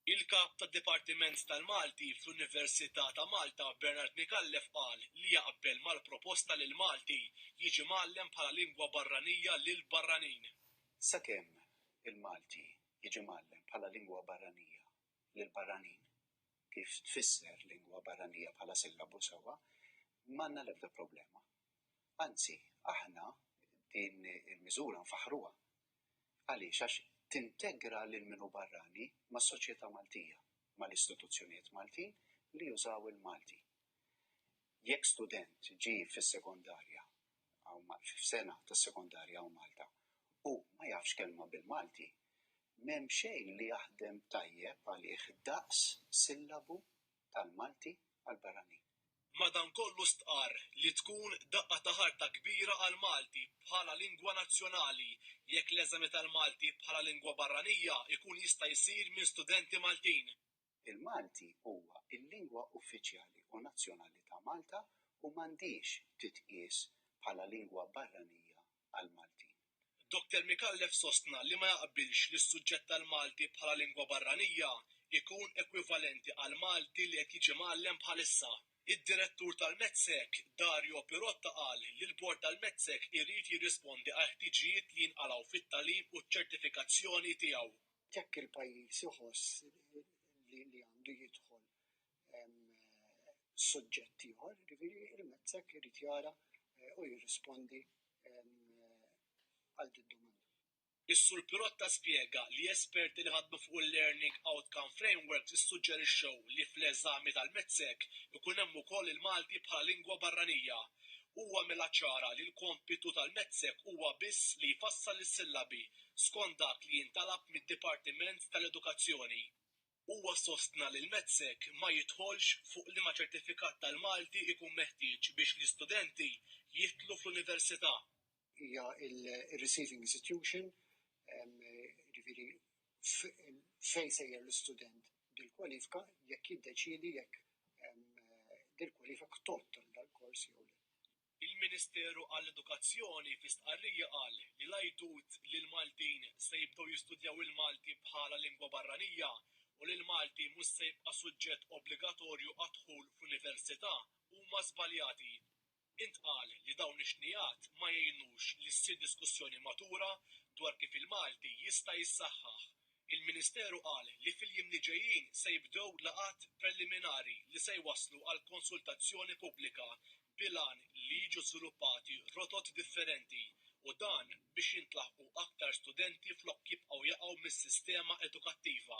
Il-Kap tad-Dipartiment tal-Malti fl-Università ta' Malta Bernard Micallef qal li jaqbel mal-proposta li l-Malti jiġi mgħallem bħala lingwa barranija lill-barranin. Sakemm il-Malti jiġi mgħallem bħala lingwa barranija lill-barranin, kif tfisser lingwa barranija bħala sillabu sewwa, m'għandna l-ebda problema. Anzi, aħna din il-miżura nfaħħruha. Għaliex? Għax tintegra lil min hu barrani mas-soċjetà Maltija, mal-istituzzjonijiet Maltin li jużaw il-Malti. Jekk student ġie fis-sekondarja, f'sena tas-sekondarja hawn Malta, u ma jafx kelma bil-Malti, m'hemm xejn li jaħdem tajjeb għalih daqs sillabu tal-Malti għall-barranin. Madankollu stqarr li tkun daqqa ta' ħarta kbira għall-Malti bħala lingwa nazzjonali jekk l-eżami tal-Malti bħala lingwa barranija jkun jista' jsir minn studenti Maltin. Il-Malti huwa l-lingwa uffiċjali u nazzjonali ta' Malta u m'għandhiex titqies bħala lingwa barranija għall-Maltin. Doktor Micallef sostna li ma jaqbilx li s-suġġett tal-Malti bħala lingwa barranija jkun ekwivalenti għall-Malti li qed jiġi mgħallem bħalissa. Id-Direttur tal-METSEC, Dario Pirotta qal li l-Bord tal-METSEC irid jirrispondi għall-ħtiġijiet li jinqalgħu fit-tagħlim u ċ-ċertifikazzjoni tiegħu. Jekk il-pajjiż iħoss li għandu jidħol suġġett ieħor, jiġifieri il-mezzek irid jara eh, u jirrispondi għal din domanda. Is-Sur Pirotta spjega li esperti li ħadmu fuq il-Learning Outcome Frameworks issuġġerixxew li fl-eżami tal-mezzek ikun hemm ukoll il-Malti bħala lingwa barranija. Huwa mela ċara li l-kompitu tal-mezzek huwa biss li jfassal is-sillabi skont dak li jintalab mid-Dipartiment tal-Edukazzjoni. Huwa sostna li l-METSEC ma jidħolx fuq liema ċertifikat tal-Malti jkun meħtieġ biex l-istudenti jidħlu fl-Università. Hija r-receiving institution, jiġifieri fejn jsejjer l-istudent bil-kwalifika jekk jiddeċiedi jekk din il-kwalifika tgħodd għal dal-kors jew le. Il-Ministeru għall-Edukazzjoni fi stqarrija qal li l-għajdut li l-Maltin se jibdew jistudjaw il-Malti bħala lingwa barranija u li l-Malti mhux se jibqa' suġġett obbligatorju għad-dħul fl-università huma żbaljati. Intqal li dawn ix-xnigħat ma jgħinux li ssir diskussjoni matura dwar kif il-Malti jista' jissaħħaħ Il-Ministeru qal li fil-jiem li ġejjin se jibdew laqgħat preliminari li se jwasslu għal konsultazzjoni pubblika bil-għan li jiġu żviluppati rotot differenti u dan biex jintlaħqu aktar studenti flok jibqgħu jaqgħu mis-sistema edukattiva.